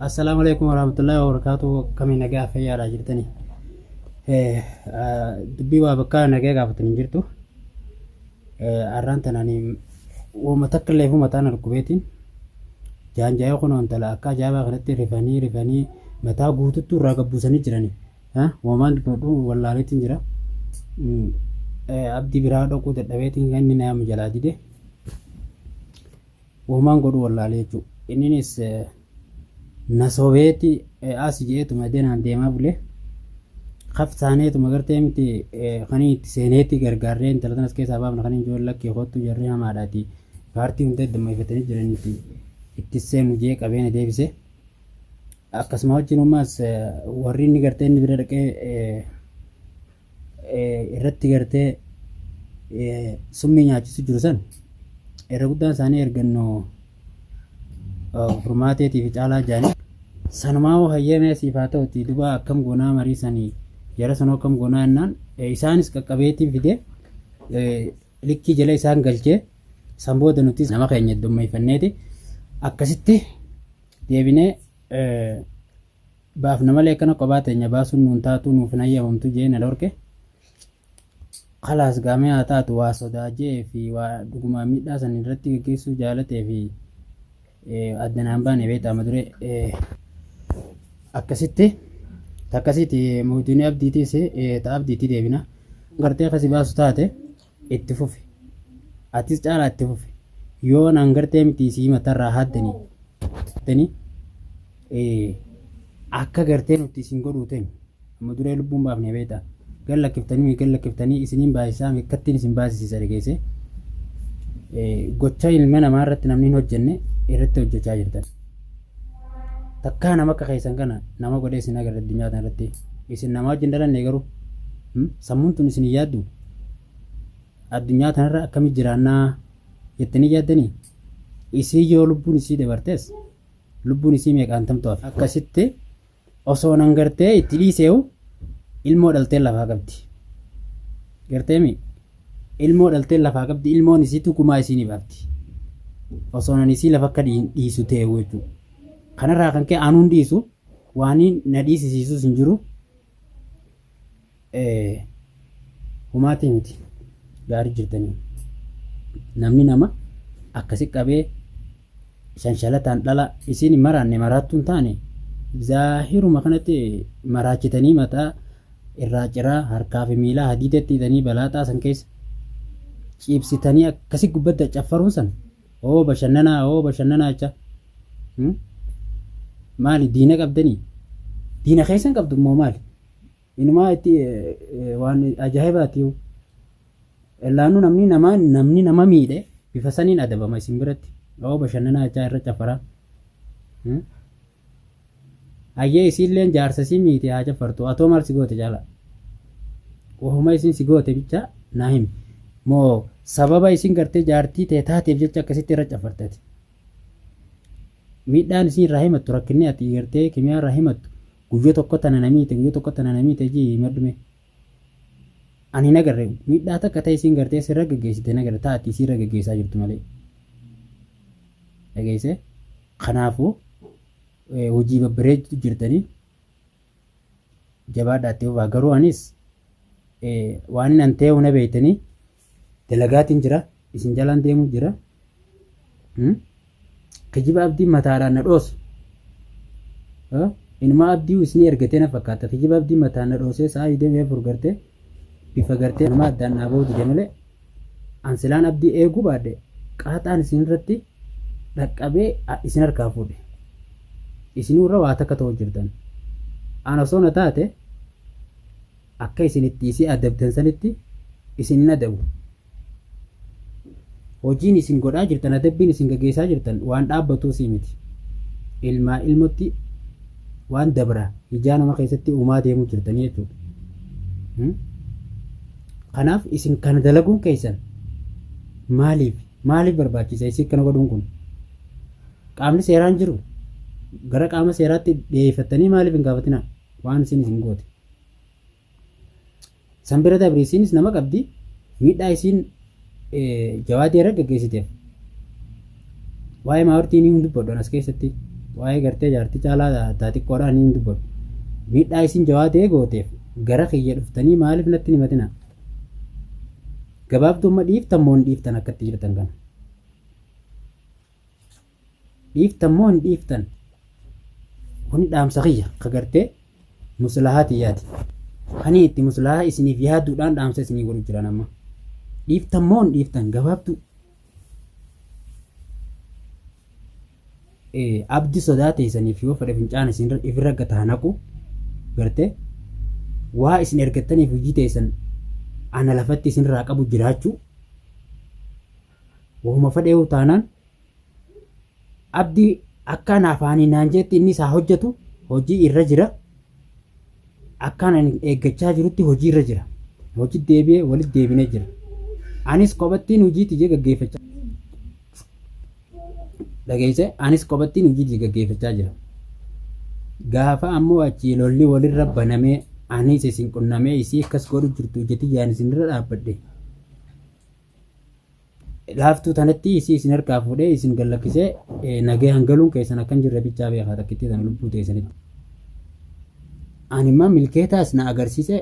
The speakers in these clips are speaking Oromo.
Assalaamu alaikum warahmatullahi wabarakatuh kamii nagaa fayyaadhaa jirtanii dubbii waa bakka nagaa gaafatan hin jirtu arraan tanani wama takka illee fuma taana dhukkubeetiin jaanjaa'ee kun intala akka ajaa'ibaa kanatti rifanii rifanii mataa guututtuu irraa gabbuusanii jiranii wamaan dubbadhu wallaaleetiin jira abdii biraa dhaquu dadhabeetiin kan inni nama jalaa dide Womaan godhu wallaale jechuu. Inninis na sobeeti asi je'eetuma denaan deemaa bule. Kaf taaneetuma gartee miti kanii itti seeneeti gargaarree intala tanas keessaa baafna kaniin jiru lakkee kottu jarri hamaadhaati. Paartii hunda damma'ifatanii jiraniiti itti seenu jee qabee na deebise. Akkasuma wajjin ummaas warri inni gartee inni bira dhaqee irratti gartee summii nyaachisu jiru san irra guddaan isaanii ergannoo furmaateetii fi caalaa jaanii sanumaa hoo hayyamee siif haa ta'uti dubaa akkam goonaa marii sanii jara sanoo akkam goonaa jennaan isaanis qaqqabeetiin fidee likkii jala isaan galchee san booda nutis nama keenya iddummeeffanneeti akkasitti deebinee baafna malee akkana qophaa teenya baasuun nuun taatuu nuuf hin hayyamamtu jee na dhorke kalaas gaamee haa taatu waa sodaa jee fi waa dhugumaa miidhaa san irratti gaggeessuu jaalatee fi adda naan baane beektaa ma dure akkasitti takkasitti mootiin abdiitiis ta'a abdiitti deebina gartee kasi baasu taate. itti fufi atis caalaa itti fufi yoo naan gartee miti isii matarraa haaddanii tani akka gartee nuti isin godhuu ta'e amma duree lubbuun baafnee beekta gan lakkiftanii gan lakkiftanii isiniin baasisaa akkattiin isin baasisiisa dhageesse gocha ilma namaa irratti namni hin hojjenne irratti hojjechaa jirtan takkaa nama akka keessan kana nama godhee isin agarra addunyaa kana irratti isin namaa wajjin dhalanne garuu sammuun tun isin hin yaaddu addunyaa tanarra akkamitti jiraannaa jettanii yaaddanii isii yoo lubbuun isii dabartes lubbuun isii meeqaan tamtu hafe akkasitti osoo nan gartee itti dhiiseewu ilmoo dhalteen lafaa qabdi garteemi ilmoo dhalteen lafaa qabdi ilmoon isiitu gumaa isii ni baafti osoo nan isii lafa akka dhiin- dhiisu ta'eewu jechuudha kanarraa kan ka'e anuun dhiisu waan na dhiisisiisus hin jiru Ee humaatii miti gaarii jirtanii namni nama akkasi qabee shanshalataan dhala isiin hin maraanne maraattuu hin taane zaahiruma kanatti maraachitanii mataa irraa ciraa harkaa fi miilaa hadiidatti hidhanii balaaxaa san keessa ciibsitanii akkasi gubbadda caffaruun san oo bashannanaa oo bashannanaa jecha maali diina qabdanii diina keessan qabdu immoo maali Inumaa itti waan ajaa'ibaati yoo. Ellaanuu namni namaa namni nama miidhe bifa saniin adabama isin biratti. Yoo bashannanaa jechaa irra cafaraa. Hayyee isiilleen jaarsa isii miiti haa cafartu atoo maal si goote caalaa. Wahuma isin si goote bichaa naa himi. Moo sababa isin gartee jaartii tee taateef jecha akkasitti irra cafartati. Miidhaan isin irraa himattu rakkinni ati gartee kimiyaa irraa himattu Guyyo tokko tana na miite guyyo tokko tana na miite jii himadhu mee. Ani hin agarre miidhaa takka ta'e isiin gartee sirra gaggeessite hin agarre ta'a ati isiirra gaggeessaa jirtu malee. Dhageessee? Kanaafuu hojii babbareedu jirtanii jabaadhaa itti fufaa garuu anis waan hin anteehu na beeytanii dalagaatiin jira isin jalaan deemuu jira kijiba abdiin mataadhaan na dhoosu inumaa abdii isinii ergatee na fakkaata kijiba abdiin mataan na dhoosee sa'aa idemee afur gartee bifa gartee inumaa addaan naa ba'uu dide malee an silaan abdii eeguu baadhe qaaxaan isin irratti dhaqqabee isin harkaa fuudhe isinuu irra waa takka ta'uu jirtan an osoo na taate Akka isin itti isii adabdan sanitti isin hin adabu. Hojiin isin godhaa jirtan, adabbiin isin gaggeessaa jirtan waan dhaabbatuu sii miti. Ilmaa ilmotti waan dabra ijaa nama keessatti uumaa deemuu jirtanii jechuudha. Hmm? Kanaaf isin kana dalaguun keessan maaliif maaliif barbaachisa isin kana godhuun kun? Qaamni seeraan jiru gara qaama seeraatti dhiyeeffattanii maaliif hin gaafatinaa waan isin isin goote? San bira dabre isiinis nama qabdi miidhaa isiin jawaadii irra gaggeessiteef waa'ee maawartii ni hin dubbadhu as keessatti waa'ee gartee jaartii caalaa taa xiqqoodhaa ni hin dubbadhu miidhaa isiin jawaadee gooteef gara kiyya dhuftanii maaliif natti hin himatina gabaabdumma dhiiftan moo hin dhiiftan akkatti jirtan kana. dhiiftan moo hin dhiiftan kuni dhaamsa kiyya ka gartee muslahaa tiyyaati kanii itti muslahaa isiniif yaaduudhaan dhaamsa isinii godhu jiran amma dhiiftan moo hin dhiiftan gabaabduu abdi sodaa teessaniif yoo fedhe fincaan isin ifirra gata hanaqu gartee waa isin ergattaniif hojii teessan ana lafatti isinirraa qabu jiraachuu wahuma fedheewu taanaan Abdi akka ana afaanii naan jeetti innis haa hojjetu hojii irra jira. Akkaan ani eeggachaa jirutti hojii irra jira. Hojii deebi'ee walitti deebinee jira. Anis kophattiin hojii tiyya gaggeeffachaa dhageesse anis kophattiin hojii tiyya gaggeeffachaa jira. Gaafa ammoo achii lolli walirra banamee anis isin qunnamee isii akkas godhu jirtu ija tiyyaan isinirra dhaabbadhe. Laaftuu tanatti isii isin harkaa fuudhee isin gallakkisee nagayaan galuun keessan akkan jirre bichaa beekaa takkittii tana lubbuu teessanitti. Ani immoo milkeetaas na agarsiise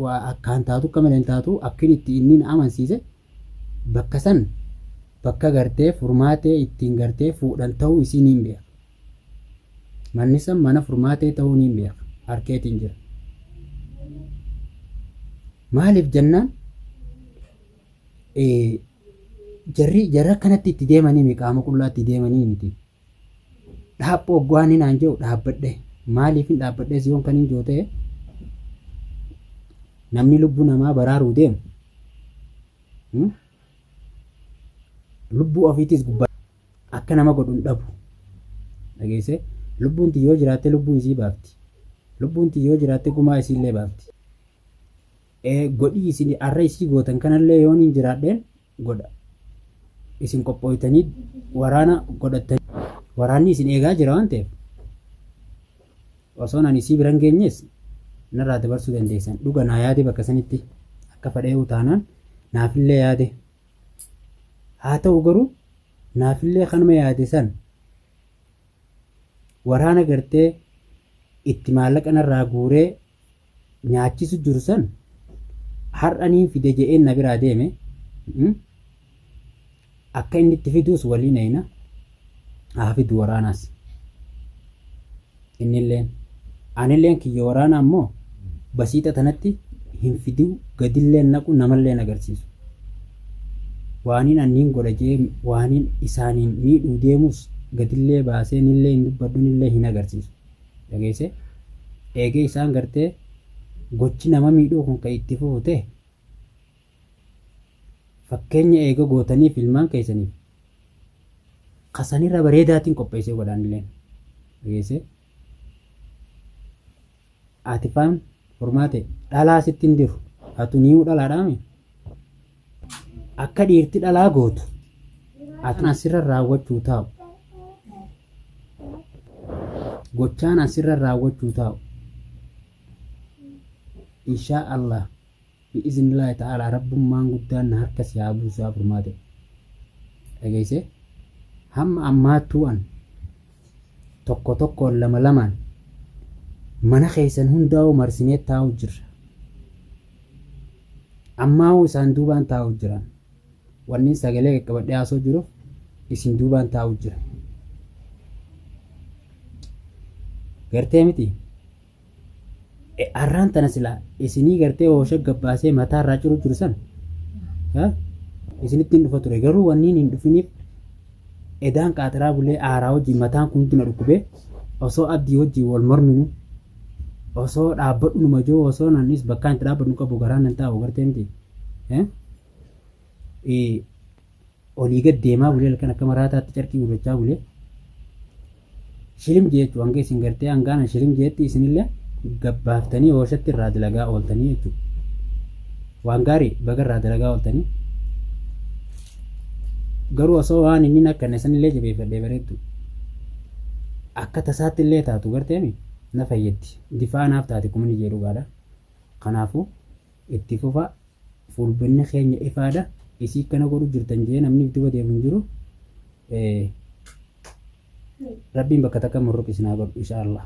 waa akkaan taatu akka malee hin taatu akkin itti inni na amansiise bakka san bakka gartee furmaatee ittiin gartee fuudhan ta'uu isiin hin beeka. Manni san mana furmaatee ta'uu niin beeka. Harkeetiin jira. Maaliif jennaan jarri jarri akkanatti itti deemanii mi qaama qullaa itti deemanii miti. Dhaaphoo ogguwaan hin aan jedhu dhaabbadhe. Maaliif hin dhaabbadhe si yoon kan hin jootee namni lubbuu namaa baraaruu deemu lubbuu ofiitiis gubbaa Akka nama godhu hin dhabu. Dhageessee? Lubbuun tiyya yoo jiraatte lubbuu isii baafti. Lubbuun tiyya yoo jiraatte gumaa isiillee baafti. Ee godhii isin arra isii gootan kanallee yoon hin jiraadheen godha. Isin qophooytanii waraana godhattanii waraanni isin eegaa jira waan ta'eef osoon ani isii biran geenyees narraa dabarsuu dandeessan. Dhuga naa yaade bakka sanitti akka fadhee utaanaan naafillee yaade. Haa ta'u garuu naafillee kanuma yaade san waraana gartee itti maallaqa narraa guuree nyaachisu jiru san har'a niin fide je'een na biraa deeme akka inni itti fiduus waliin eeyna haa fidu waraanaas. Innilleen, Anilleen kiyya waraanaa immoo basiixa tanatti hin fidiu, gadillee hin naqu, namallee hin agarsiisu. Waaniin an niin godha je'ee waaniin isaaniin miidhuu deemus gadillee baasee nillee hin dubbadhu, nillee hin agarsiisu. Dhageessee? Eegee isaan gartee gochi nama miidhuu kun ka itti fufu tehe, Fakkeenya eega gootaniif ilmaan keessaniif ka sanirra bareedaatiin qopheessee godhaanilleen dhageessee Aatifaan furmaate dhalaa sitti hin diru hatu nii'uu dhalaadhaame akka dhiirti dhalaa gootu ati asirra raawwachuu taa'u gochaan asirra raawwachuu taa'u inshaa Allah Bi'iznillaahi ta'aalaa Rabbummaan guddaan na harka si haa buusu yaa furmaate. Dhageesse? Hamma ammaattuu an tokko tokkoon lama lamaan mana keessan hundaa'uu marsinee taa'u jirra. Ammaa'uu isaan duubaan taa'u jiran. Wanni sagalee qaqqabadhee haasoo jiruuf isin duubaan taa'u jira. Gartee miti? Arraan tana silaa isinii gartee hoosha gabbaasee mataa irraa ciru jiru san isinitti hin dhufa ture garuu wanniin hin dhufiniif edaan qaaxiraa bulee aaraa wajjin mataan kun na dhukkubee osoo abdii wajjin wal morminu osoo dhaabbadhu numa jiru osoo nannis bakkaan itti dhaabbadhu qabu garaan nan taa'u gartee miti. olii gad deemaa bulee halkan akka maraataatti carqii gurrachaa bulee shilim jeechu hanga isin gartee hangaana shilim jeetti isinillee gabbaaftanii oolshatti irraa dalagaa ooltanii jechuudha. Waan gaarii baga irraa dalagaa ooltanii. Garuu osoo waan inni akka inni sanillee jabeeffadhee bareeddu akka tasaatti illee taatu garteemi na fayyaddi. Difaa naaf taate kumni jee dhugaadha. Kanaafuu Itti fufaa fuulbinni keenya ifaadha isii akkana godhu jirtan jee namni duba deemu hin jiru rabbiin bakka takka murruq isin haa godhu insha Allah.